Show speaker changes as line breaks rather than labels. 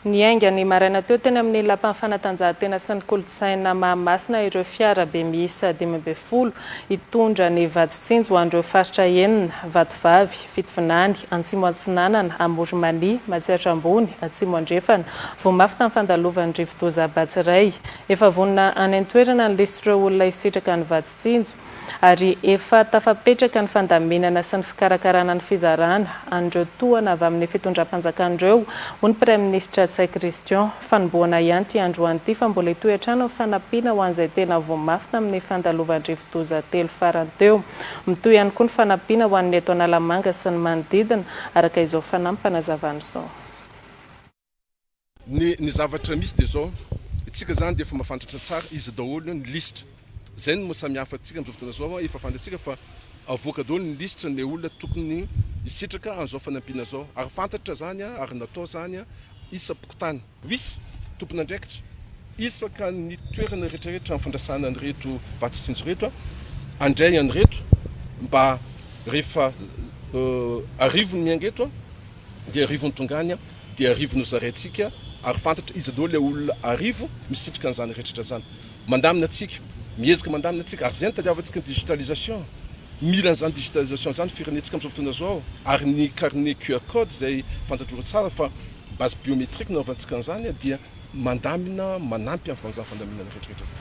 Niainga ny maraina teo teny amin'ny Lapan'ny fanatanjahantena sy ny kolontsaina Mahamasina ireo fiara be miisa dimy ambin'ny folo hitondra ny vadintsinjo ho an'ireo faritra enina, Vatovavy, Fitovinany, Antsimo Atsinanana, Amorimania, Matsiatra Ambony, Atsimo Andrefana. Voa mafy tamin'ny fandalovan'ny rivodoza Batsirai. Efa vonona any an-toerana ny lisitr' ireo olona hisitraka ny vadintsinjo. ary efa tafapetraka ny fandaminana sy ny fikarakarana ny fizarana an'ireo tohana avy amin'ny fitondram-panjakana ireo, hoy ny praiminisitra Ntsay Christian. Fanombohana ihany ity androany ity fa mbola hitohy hatrany ny fanampiana ho an'izay tena voa mafy tamin'ny fandalovan drivodoza telo farany teo. Mitohy ihany koa ny fanampiana ho an'ny eto Analamanga sy ny manodidina, araka izao fanampanazavan'izao.
Ny ny zavatra misy dia izao, isika izany dia efa mahafantatra tsara iza daholo ny lisitra. Izay no maha samy hafa antsika amin'izao fotoana izao an, efa fantatsika fa avoaka daholo ny lisitra ilay olona tokony hisitraka an'izao fanampiana izao. Ary fantatra izany an, ary natao izany an, isam-pokontany. Misy tompon'andraikitra isaka ny toerana rehetrarehetra amin'ny fandrasana an'ireto vatsy tsinjo ireto an, handray an'ireto mba rehefa arivony ny an'ireto an. Dia arivo no tonga any, dia arivo no zaraintsika, ary fantatra iza daholo ilay olona arivo misitrika an'izany rehetrarehetra izany. Mandamina antsika, mihezaka mandamina antsika, ary izay no tadiavantsika ny digitalisation. Mila an'izany digitalisation izany ny firenentsika amin'izao fotoana izao, ary ny carnet QR code izay fantatrareo tsara fa base biométrique nanaovantsika an'izany dia mandamina, manampy amin'ny fanjava-pandaminana rehetrarehetra izany.